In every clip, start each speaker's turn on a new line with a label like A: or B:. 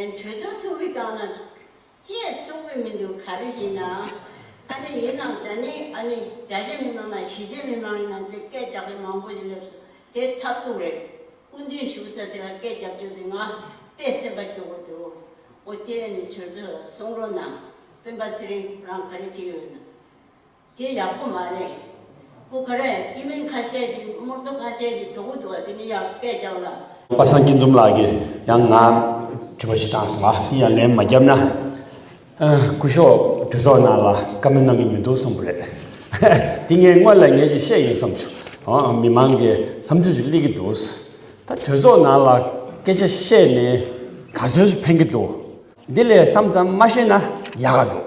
A: གྲོས་ཚོགས་ཚོགས་རིགས་གང་ལ་བཅས་གསུང་གི་མི་འདུག་ག་རེ་བྱས་ནའང་ཨ་ནི་ཡིན་ནམ་ད་ནི་ཨ་ནི་རྒྱ་ཆེ་མི་མང་ན་གཞིས་བྱེས་མི་མང་ཡིན་ནམ་དེ་སྐད་རྒྱག་མཁན་མང་པོ་ཞིག་སླེབས་སོང་དེ་ཐབས་སྡུག་རེད་སྐུ་མདུན་བཞུགས་ས་དེ་ལ་སྐད་རྒྱབ་ཆོག་དེ་ང་དཔེ་སེམས་པ་སྐྱོ་བོ་འདུག་འོ་དེ་ཨ་ནི་གྲོས་ཚོགས་ལ་གསུང་རོགས་གནང་སྤེན་པ་ཚེ་རིང་རང་ག་རེ་བྱས་ཡོད་ནམ། དེ་ཡག་པོ་མ་རེད། པོ་ག་རེད་ཁྱིམ་མི་ཁ་ཤས་ཀྱི་རྨོར་རྡོ་ཁ་ཤས་ཀྱི་གྲོགས་པོ་དུ་བ་དེ་ནི་
B: ཡང་སྐད་རྒྱག་ལ། པ་སངས་སྐྱིད་འཛོམས་ལགས་ཀྱིས་ཡང་ང་དྲི་བ་ཞིག་བཏང་སོང་ཨ་དེ་ཡང་ལན་མ་རྒྱབ་ན། སྐུ་ཞོག་གྲི་ཚོགས་ནང་ལ་བཀའ་མོལ་གནང་གི་མི་འདུག་གསུངས་པ་རེད། དེ་ངས་དངོས་ལ་ངས་ཀྱི་བཤད་ཡིན་བསམ་ཆུ་མི་མང་གི་བསམ་ཚུལ་ཞིག་གླེགས་ཀྱི་འདུག་ད་གྲོས་ཚོགས་ནང་ལ་སྐད་ཆ་བཤད་ནས་ག་ཚོད་ཞིག་ཕན་གྱི་འདུག་འདི་ལས་སམ་ཙམ་མ་བཤད་ན་ཡག་ག་འདུག་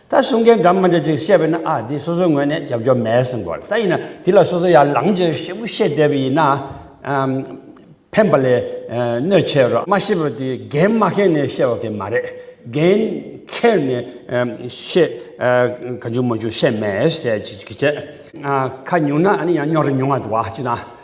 B: ད་གསུང་མཁན་འདྲ་མི་འདྲ་ཅིག་བཤད་པས་ན་ཨ་འདི་སོ་སོའི་ངོས་ནས་རྒྱབ་སྐྱོར་མེད་གསུང་དགོས་རེད་ད་ཡིན་ན་འདི་ལ་སོ་སོ་ཡར་ལངས་རྒྱུ་ཞེ་པོ་བཤད་བསྡད་པ་ཡིན་ན་ཕན་པ་ལས་གནོད་ཆེ་རོ། མ་ཤེས་པ་དེ་རྒན་སྨྲ་མཁན་ནས་བཤད་བ་གི་མ་རེད་རྒན་ཁྱེར་ནས་བཤད་ག་འཇུག་མ་འཇུག་བཤད་མེད་ཟེར་གི་བྱས། ཁ་ཉུང་ན་ཡང་རྙོག་རེ་ཉུང་བ་འདུག་ཅི་ན།